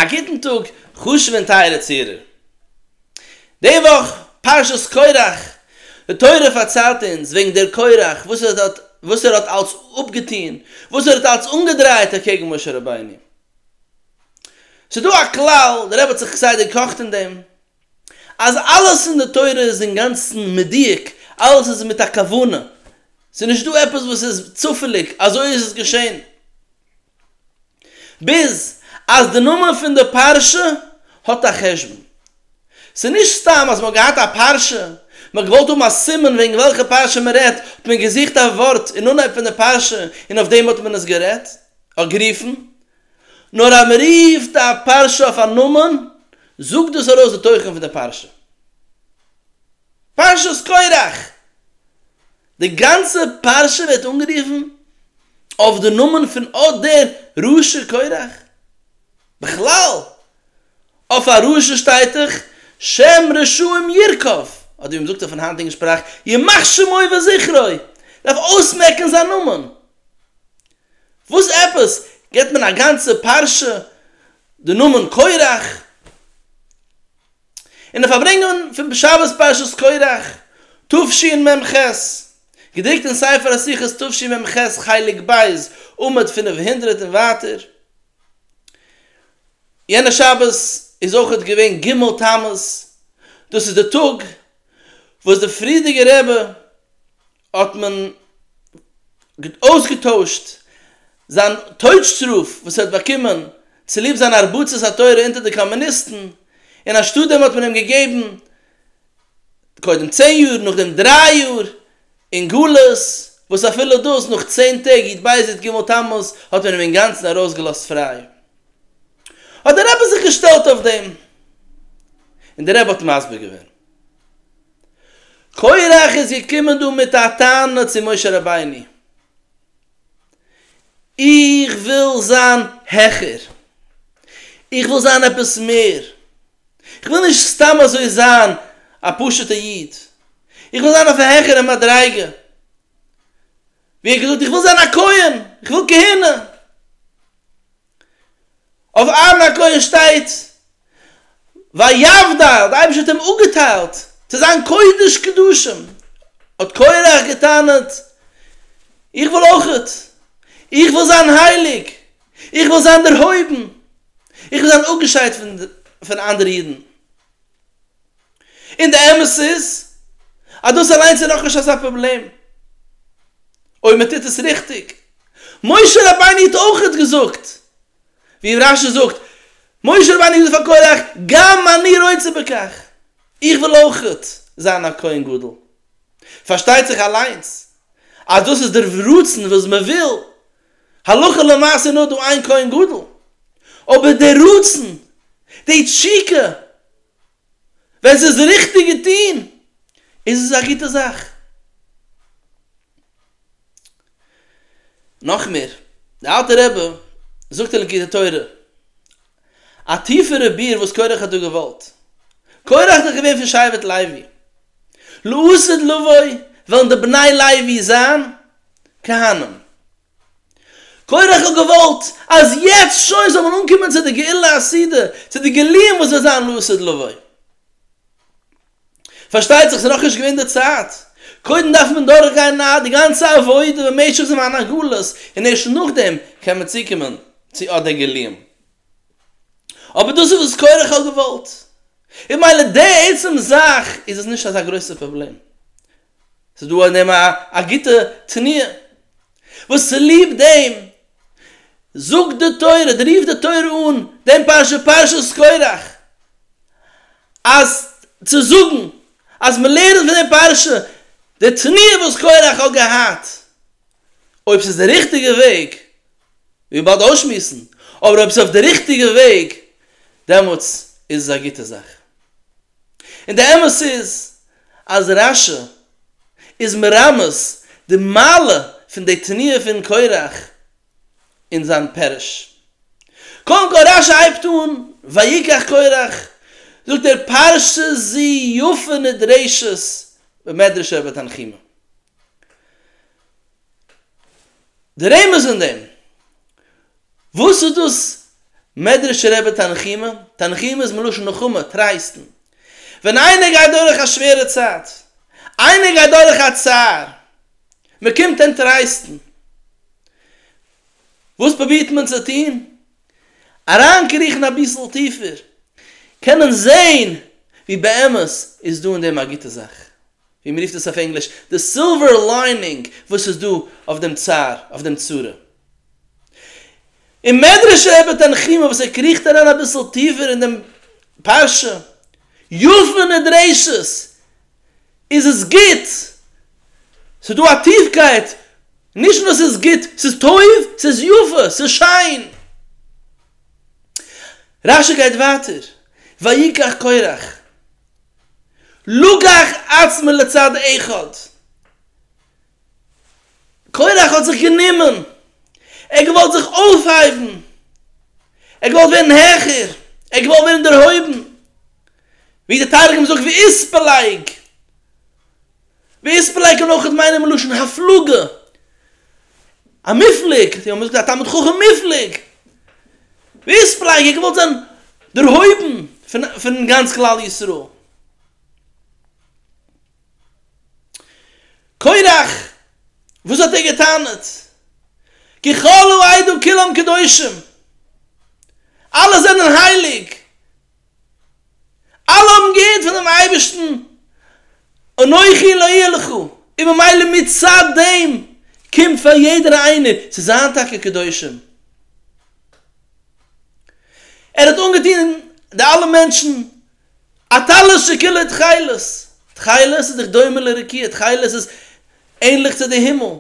א גוטן טאג חשובע און טייערע צוהערער. די וואך פרשת קורח, די תורה פארציילט אונז וועגן דער קורח וואס ער האט וואס ער האט אלץ אפגעטון, וואס ער האט אלץ אנגעדרייט אקעגן משה רבינו. ס'איז דא א כלל, דער רבי האט זיך כסדר געקאכט אין דעם, אז אלעס אין די תורה איז אינגאנצן מדויק, אלעס איז מיט א כוונה, ס'איז נישט דא עפעס וואס איז צופעליג, אזוי איז עס געשען. ביז אז די נאמען פון די פרשה האט א חשבון. ס'איז נישט סתם אז מ'האט געהאט א פרשה, מ'האט געוואלט האבן א סימן וועגן וועלכע פרשה מ'רעדט, האט מען געזוכט א ווארט אין אנהייב פון די פרשה און אויף דעם האט מען עס גערעדט, אויף גערופן. נאר אז מ'רופט א פרשה אויף א נאמען, זאגט דאס ארויס די תוכן פון די פרשה. פרשת קרח! די גאנצע פרשה ווערט אנגערופן אויף די נאמען פון אט דער רשע קורח. בכלל, אויף א רשע שטייט דאך שם רשעים ירקב, אדער ווי מען זאגט אויפן היינטיגן שפראך ימח שמו וזכרו, דארף אויסמעקן זיין נאמען. וואס עפעס גיבט מען א גאנצע פרשה די נאמען קורח? אין די פארברענגונגען פון בשבת פרשת קרח תשי מ ח, געדרוקט אין ספר השיחות תשי מ ח חלק ב' עמוד פֿינף הונדערט און ווייטער. יענע שבת איז אויך געווען ג' תמוז, דאס איז די טאג וואס די פריערדיגע רבי האט מען אויסגעטוישט זיין טויטשטראף וואס ער האט באקומען צוליב זיין הרבצת התורה אונטער די קאמוניסטן, און אנשטאט דעם האט מען אים געגעבן קודם צען יאר, נאכדעם דריי יאר אין גלות, וואס אפילו דאס נאך צען טעג י ט בייז י ט ג' תמוז האט מען אים אינגאנצן ארויסגעלאזט פריי, האט דער רבי זיך געשטעלט אויף דעם און דער רבי האט מסביר געווען. קורח איז געקומען דא מיט א טענה צו משה רבינו, איך וויל זיין העכער, איך וויל זיין עפעס מער, איך וויל נישט סתם אזוי זיין א פשוטע איד, איך וויל זיין אויף א העכערע מדריגה, ווי ער האט געזאגט איך וויל זיין א כהן, איך וויל כהונה. אויף אהרן הכהן שטייט ויבדל, דער אייבערשטער האט אים אפגעטיילט צו זיין קודש קדשים, האט קורח געטענה'ט, איך וויל אויך, איך וויל זיין הייליג, איך וויל זיין דערהויבן, איך וויל זיין אפגעשיידט פון אנדערע אידן. און די אמת איז אז דאס אליינס איז נאכנישט אזא פראבלעם אויב מען טוט עס ריכטיג, משה רבינו האט אויך געזאגט ווי רש י זאגט, משה רבינו האט געזאגט פאר קרח גם אני רוצה בכך, איך וויל אויך זיין א כהן גדול, פארשטייט זיך אליינס אז דאס איז דער רצון וואס מען וויל, הלכה למעשה איז נאר דא איין כהן גדול, אבער דער רצון, די תשוקה, ווען ס'איז ריכטיג געטון איז עס א גוטע זאך. נאך מער, דער אלטער רבי זאגט אין ליקוטי תורה א טיפערע ביאור וואס קרח האט דא געוואלט, קרח איז דאך געווען פון שבט לוי, לעשות לבוי וועלן די בני לוי זיין כהנים, קודם איך האב געוואלט אז יעצט שוין זאל מען אנקומען צו די גאולה הסעודה, צו די גילויים וואס וועט זיין לעתיד לבוא. פארשטייט זיך ס'איז נאך נישט געווען די צייט, קודם דארף מען דורך גיין די גאנצע עבודה במשך זמן הגלות און ערשט נאכדעם קען מען צוקומען צו אט די גילויים. אבער דאס איז וואס קודם איך האב געוואלט. און ממילא די עצם זאך איז עס נישט אזא גרויסע פראבלעם. ס'איז דא אין דעם א גוטע תניא, וואס צוליב דעם זאגט די תורה, אדער רופט די תורה אן דעם פרשה, פרשת קרח, אז צו זאגן אז מען לערנט פון דער פרשה די תניא וואס קרח האט געהאט, אויב ס'איז דער ריכטיגער וועג, מיר באלד אויסשמועסן, אבער אויב ס'איז אויף דער ריכטיגער וועג, דעמאלטס איז עס א גוטע זאך. און די אמת איז אז רש י איז מרמז די מעלה פון די תניא פון קרח אין זיין פירוש. קודם כל רש י הייבט אן ויקח קרח זאגט ער פרשת זו יפה נדרשת במדרש רבה תנחומא. די רמז אין דעם, וואס איז דאס מדרשי רבי תנחומא? תנחומא איז מלשון נחמה, טרייסטן. ווען איינער גייט דורך א שווערע צייט, איינער גייט דורך א צער, מען קומט אים טרייסטן. וואס פרובירט מען צו טון? אריינקריכן אביסל טיפער, קענען זען ווי באמת איז דא אין דעם א גוטע זאך. ווי מען רופט עס אויף ענגליש, די סילווער ליינינג וואס איז דא אויף דעם צער, אויף דעם צרה. אין מדרש רבי תנחומא וואס ער קריכט אריין אביסל טיפער אין דעם פרשה, יפה נדרשת, איז עס גוט, ס'איז דא א טיפקייט, נישט נאר ס'איז גוט, ס'איז טוב, ס'איז יפה, ס'איז שיין. רשי גייט ווייטער, ויקח קורח. לקח עצמו לצד אחד, קורח האט זיך גענומען, ער האט געוואלט זיך אויפהייבן, ער האט געוואלט ווערן העכער, ער האט געוואלט ווערן דערהויבן, ווי דער תרגום זאגט ואיספלג, ווער עס פלעגט און אויך איז מיינער מלשון הפלגה א מופלג, זיי האבן עס געזאגט א תלמיד חכם מופלג, ווער עס פלעגט ער געוואלט זיין דערהויבן פון פון גאנץ כלל ישראל. קורח, וואס האט ער גע'טענה'ט? ככלו עידו כולם קדושים, אלע זענען הייליג. אלע האבן געהערט פונעם אייבערשטן, אנכי לא אהיה לך, און ממילא מצד דעם קומט פאר יעדער איינער צו זיין טאקע קדושים. ער האט אנגעטון די אלע מענטשן א טלית שכולו תכלת, תכלת איז דאך דומה לרקיע, תכלת איז ענליך צו די הימל,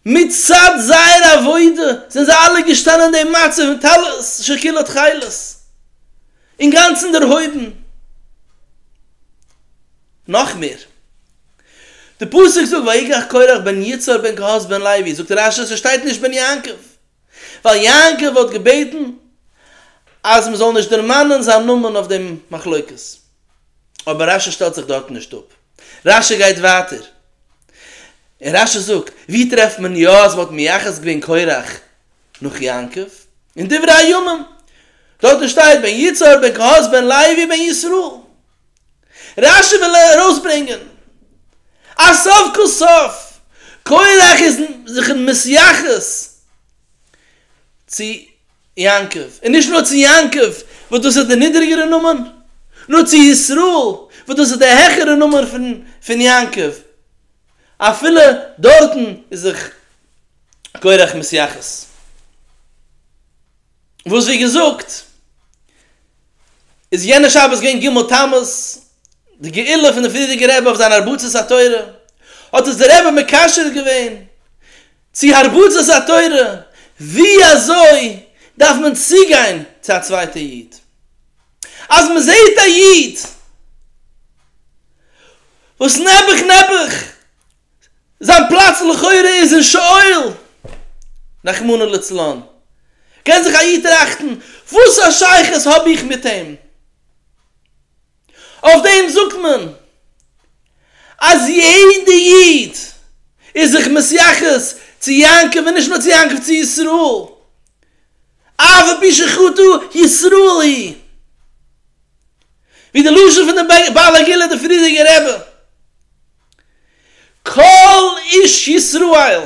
מצד זייער עבודה זענען זיי אלע געשטאנען אין דעם מצב פון טלית שכולה תכלת, אינגאנצן דערהויבן. נאך מער, די פסוק זאגט ויקח קרח בן יצהר בן קהת בן לוי, זאגט רש י ס'שטייט נישט בן יעקב, ווייל יעקב האט געבעטן אז מ'זאל נישט דערמאנען זיין נאמען אויף דעם מחלוקת. אבער רשי שטעלט זיך דארטן נישט אפ, רשי גייט ווייטער, און רשי זאגט, ווי טרעפט מען יא אז מ'האט מייחס געווען קרח נאך יעקב? אין דברי הימים, דארטן שטייט בן יצהר בן קהת בן לוי בן ישראל, רשי וויל ארויסברענגען אז סוף כל סוף קרח איז זיך מייחס צו. יעקב, און נישט נאר צו יעקב, וואס דאס איז דער נידעריגערער נאמען, נאר צו ישראל, וואס דאס איז דער העכערער נאמען פון פון יעקב, אפילו דארטן איז זיך קרח מתייחס, וואס ווי געזאגט, איז יענע שבת געווען ג' תמוז, די גאולה פון דער פריערדיגער רבי אויף זיין הרבצת התורה, האט עס דער רבי מקשר געווען, צו הרבצת התורה, ווי אזוי דארף מען צוגיין צו א צווייטע איד אז מען זעהט א איד וואס נעבעך נעבעך זיין פלאץ לכאורה איז אין שאול רחמנא לצלן, קען זיך א איד טראכטן וואס א שייכות האב איך מיט אים? אויף דעם זאגט מען אז יעדע איד איז זיך מסייחס צו יעקב און נישט נאר צו יעקב צו ישראל אף על פי שחטא ישראל היא ווי די לשון פון די בעל הגילוי די פריערדיגע רבי כל איש ישראל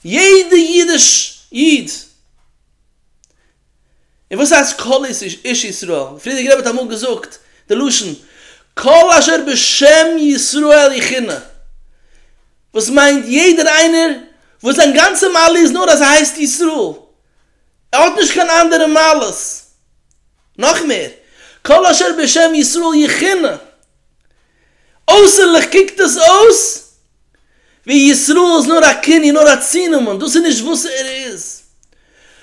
יעדע אידיש איד און וואס הייסט כל איש ישראל? די פריערדיגע רבי האט אמאל געזאגט די לשון כל אשר בשם ישראל יכונה, וואס מיינט יעדער איינער וואס זיין גאנצע מעלה איז נאר אז ער הייסט ישראל, ער האט נישט קיין אנדערע מעלות. נאך מער, כל אשר בשם ישראל יכונה. אויסערליך קוקט עס אויס ווי ישראל איז נאר א כינוי, נאר א צונאמען, דאס איז נישט וואס ער איז.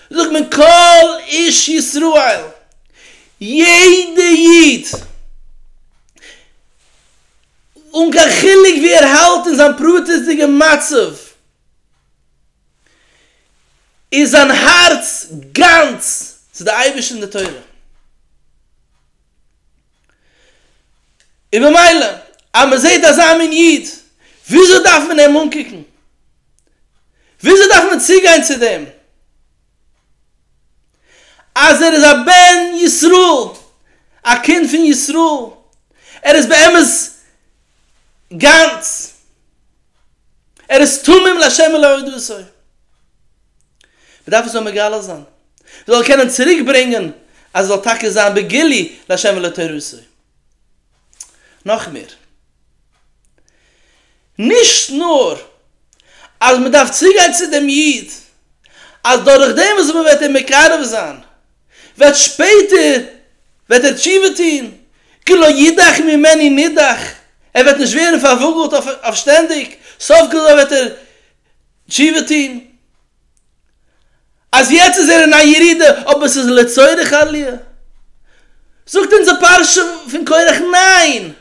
זאגט מען כל איש ישראל, יעדע איד, אן קיין חילוק ווי ער האלט אין זיין פרטיות'דיגע מצב, איז זיין הארץ גאנץ צו די אייבערשטער און די תורה. און ממילא אז מען זעט אזא מין איד, וויאזוי דארף מען אים אנקוקן? וויאזוי דארף מען צוגיין צו דעם? אז ער איז א בן ישראל, א קינד פון ישראל, ער איז באמת, גאנץ, ער איז תמים לה' ולהודותו. מ'דארף עס נאר מגלה זיין, מ'זאל קענען צוריק ברענגען אז עס זאל טאקע זיין בגילוי לה' ולתורתו. נאך מער, נישט נאר אז מ'דארף צוגיין צו דעם איד אז דורכדעם וואס מ'וועט אים מקרב זיין וועט שפעטער וועט ער תשובה טון, כי לא ידח ממני נידח, ער וועט נישט ווערן פארוואגלט אויף שטענדיג, סוף כל סוף וועט ער תשובה טון, אז יעצט איז ער אין א ירידה אבער ס'איז לצורך עליה, זאגט אונז די פרשה פון קרח ניין,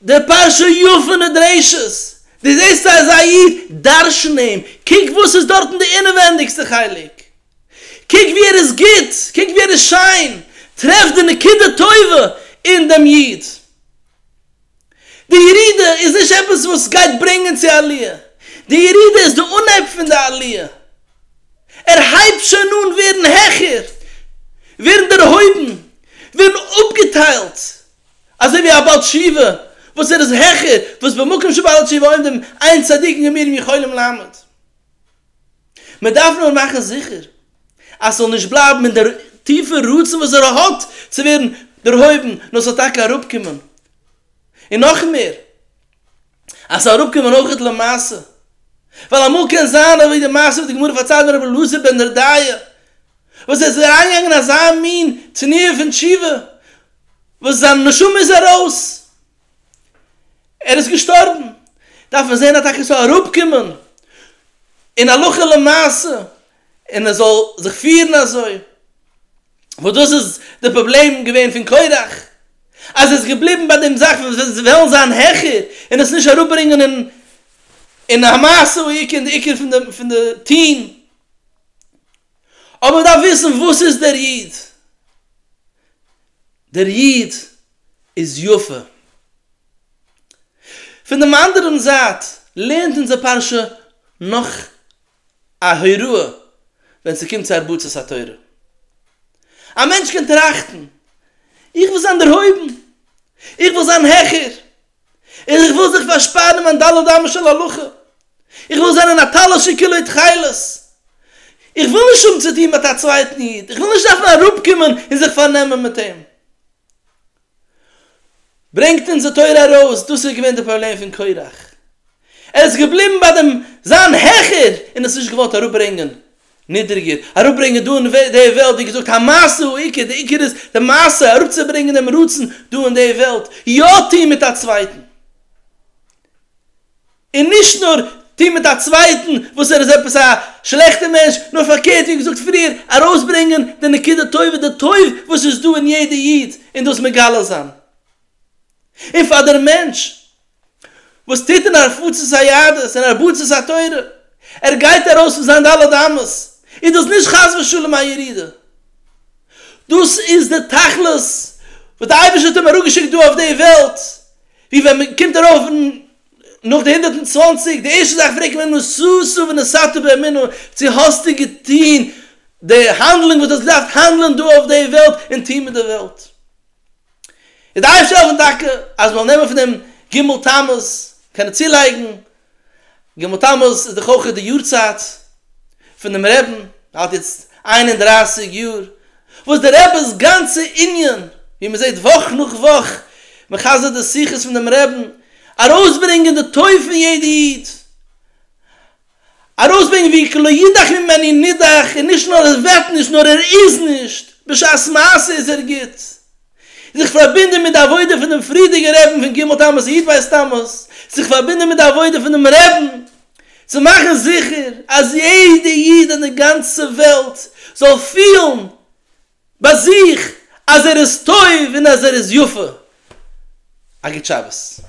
די פרשה י פון נדרשת, דו זעסט אזא איד, דרשן אים, קוק וואס איז דארטן די אינעווענדיגסטע חלק, קוק ווי ער איז גוט, קוק ווי ער איז שיין, טרעף די נקודה טובה אין דעם איד. די ירידה איז נישט עפעס וואס גייט ברענגען צו א עליה, די ירידה איז די אנהייב פון די עליה, ער הייבט שוין אן ווערן העכער, ווערן דערהויבן, ווערן אפגעטיילט, אזוי ווי א בעל תשובה וואס ער איז העכער, וואס במקום שבעל תשובה עומדים אין צדיקים גמורים יכולים לעמוד. מען דארף נאר מאכן זיכער אז ס'זאל נישט בלייבן אין דער טיפער רצון וואס ער האט צו ווערן דערהויבן, נאר ס'זאל טאקע אראפקומען, און נאך מער, אז ס'זאל אראפקומען אויכעט למעשה, ווייל אמאל קען זיין אזוי ווי די מעשה וואס די גמרא פארציילט פון רבי אלעזר בן דרדיא, וואס ער איז אריינגעגאנגען אין אזא מין תנועה פון תשובה, וואס זיין נשמה איז ארויס, ער איז געשטארבן, דארף מען זען אז טאקע ס'זאל אראפקומען אין הלכה למעשה, און ער זאל זיך פירן אזוי, וואס דאס איז די פראבלעם געווען פון קורח, אז ער איז געבליבן ביי דעם זאך פון וועלן זיין העכער, און עס נישט אראפברענגען אין אין המעשה הוא עיקר, און די עיקר פון די טוהן. אבער מען דארף וויסן וואס איז דער איד, דער איד איז יפה. פון דעם אנדערן זייט לערנט אונזער פרשה נאך א הוראה ווען ס'קומט צו הרבצת התורה. א מענטש קען טראכטן, איך וויל זיין דערהויבן, איך וויל זיין העכער, איך וויל זיך פארשפארן אין מיין ד' אמות של הלכה, איך וויל זיין אין א טלית שהיא כולו תכלת, איך וויל נישט האבן צו טון מיט א צווייטן איד, איך וויל נישט דארפן אראפקומען און זיך פארנעמען מיט אים, ברענגט אונז די תורה ארויס, דאס איז געווען די פראבלעם פון קרח, ער איז געבליבן ביי דעם זיין העכער און עס נישט געוואלט אראפברענגען נידריגער אראפברענגען דא אין די וועלט, ווי געזאגט המעשה הוא עיקר, די עיקר איז די מעשה, אראפצוברענגען דעם רצון דא אין די וועלט, יא טון מיט א צווייטן, און נישט נאר טון מיט א צווייטן וואס ער איז עפעס א שלעכטער מענטש, נאר פארקערט ווי געזאגט פריער, ארויסברענגען די נקודה טובה, די טוב וואס איז דא אין יעדע איד, און דאס מגלה זיין, און פאר דער מענטש. וואס טוט אין הרחצת היהדות און הרבצת התורה, ער גייט ארויס פון זיין ד' אמות, איז דאס נישט חס ושלום א ירידה, דאס איז די תכלית וואס די אייבערשטער האט אים אראפגעשיקט דא אויף די וועלט, ווי ווען מען קומט ארויף נאך די הונדערט און צוואנציג, די ערשטע זאך פרעגט מען נסעתו ונסעתו באמונה, צו האסטו געטון די האנדלונג וואס דו האסט געדארפט האנדלען דא אויף די וועלט און טון מיט די וועלט. איז די אייבערשטער העלפן טאקע אז מ'זאל נעמען פון דעם ג' תמוז, קענען צולייגן, ג' תמוז איז דאך אויך די יארצייט פונעם רעבן, ער האלט יעצט איין און דרײַסיק יאר, וואס די רעבע'ס גאנצע ענין, ווי מען זעט וואך נאך וואך, מחזר די שיחות פון דעם רעבן, ארויסברענגען די טוב פון יעדע איד, ארויסברענגען ווי כלא יודח ממני נידח און נישט נאר ער וועט נישט נאר ער איז נישט, בשעת מעשה איז ער גוט. זיך פארבינדען מיט די עבודה פון דעם פריערדיגע רעבן פון ג' תמוז איד ווייסט תמוז, זיך פארבינדען מיט די עבודה פונעם רעבן צו מאכן זיכער אז יעדע איד אין די גאנצע וועלט זאל פילן ביי זיך אז ער איז טוב און אז ער איז יפה. א גוט שבת.